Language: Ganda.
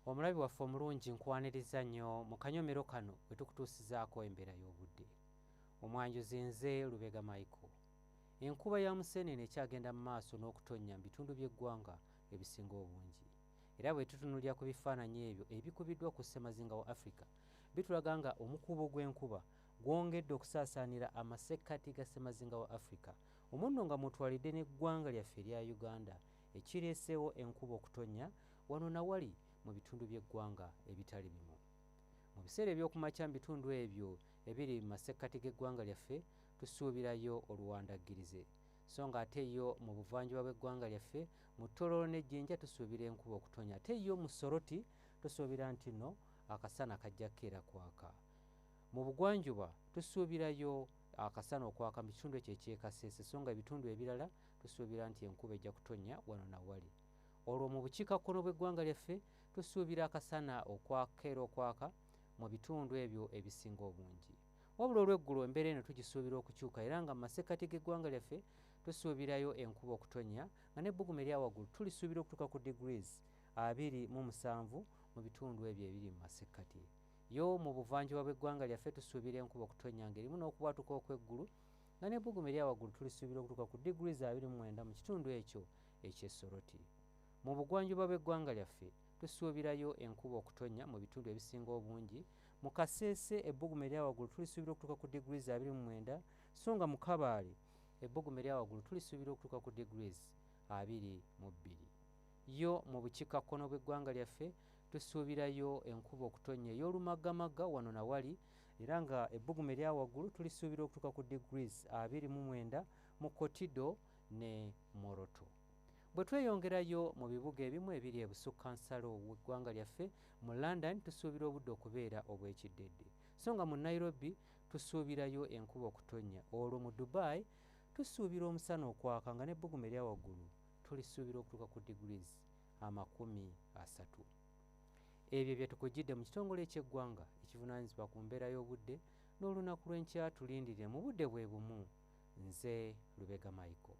omulabi waffe omulungi nkwaniriza nnyo mu kanyomero kano bwe tukutuusizaako embeera y'obudde omwanjuzi nze lubega michael enkuba ya museenene ekyagenda mu maaso n'okutonnya mu bitundu by'eggwanga ebisinga obungi era bwe tutunulira ku bifaananyi ebyo ebikubiddwa ku ssemazinga wa afrika bitulaga nga omukuubo gw'enkuba gwongedde okusaasaanira amasekkati ga ssemazinga wa afrika omunno nga mutwalidde n'eggwanga lyaffe erya uganda ekireeseewo enkuba okutonnya wano na wali mu bitundu by'eggwanga ebitali bimu. Mu biseera eby'okumakya mu bitundu ebyo ebiri mu masekkati g'eggwanga lyaffe tusuubirayo oluwandaggirize, so nga ate yo mu buvanjuba bw'eggwanga lyaffe mu Tororo ne Jinja tusuubira enkuba okutonnya ate yo mu Soroti tusuubira nti no akasana kajja kukeera kwaka. Mu bugwanjuba tusuubirayo akasana okwaka mu kitundu ekyo eky'e Kasese so nga ebitundu ebirala Tusuubira nti enkuba ejja kutonnya wano na wali. Olwo mu bukiikakkono bw'eggwanga lyaffe tusuubira akasana okwaka era okwaka mu bitundu ebyo ebisinga obungi. Wabula olw'eggulo embeera eno tugisuubira okukyuka era nga mu masekkati g'eggwanga lyaffe tusuubirayo enkuba okutonnya nga n'ebbugumu erya waggulu tulisuubira okutuuka ku degrees abiri mu musanvu mu bitundu ebyo ebiri mu masekkati. Yo mu buvanjuba bw'eggwanga lyaffe tusuubira enkuba okutonnya ng'erimu n'okubwatuka okw'eggulu nga n'ebbugumu erya waggulu tulisuubira okutuuka ku diguli za abiri mu mwenda mu kitundu ekyo eky'e Soroti. Mu bugwanjuba bw'eggwanga lyaffe tusuubirayo enkuba okutonnya mu bitundu ebisinga obungi. Mu Kasese ebbugumu erya waggulu tulisuubira okutuuka ku diguli za abiri mu mwenda so nga mu Kabaale ebbugumu erya waggulu tulisuubira okutuuka ku diguli abiri mu bbiri. Yo mu bukiikakkono bw'eggwanga lyaffe tusuubirayo enkuba okutonnya ey'olumaggamaga wano na wali era nga ebbugumu erya waggulu tulisuubira okutuuka ku degrees abiri mu mwenda mu kotido ne moroto bwe tweyongerayo mu bibuga ebimu ebiri ebusukka nsalo weggwanga lyaffe mu london tusuubira obudde okubeera obw'ekiddedde so nga mu nairobi tusuubirayo enkuba okutonnya olwo mu dubai tusuubira omusana okwaka nga n'ebbugumu erya waggulu tulisuubira okutuuka ku degrees amakumi asatu ebyo byetukujjidde mu kitongole ekyeggwanga ekivunanyizibwa ku mbeera y'obudde n'olunaku lw'enkya tulindirire mu budde bwe bumu nze lubega michael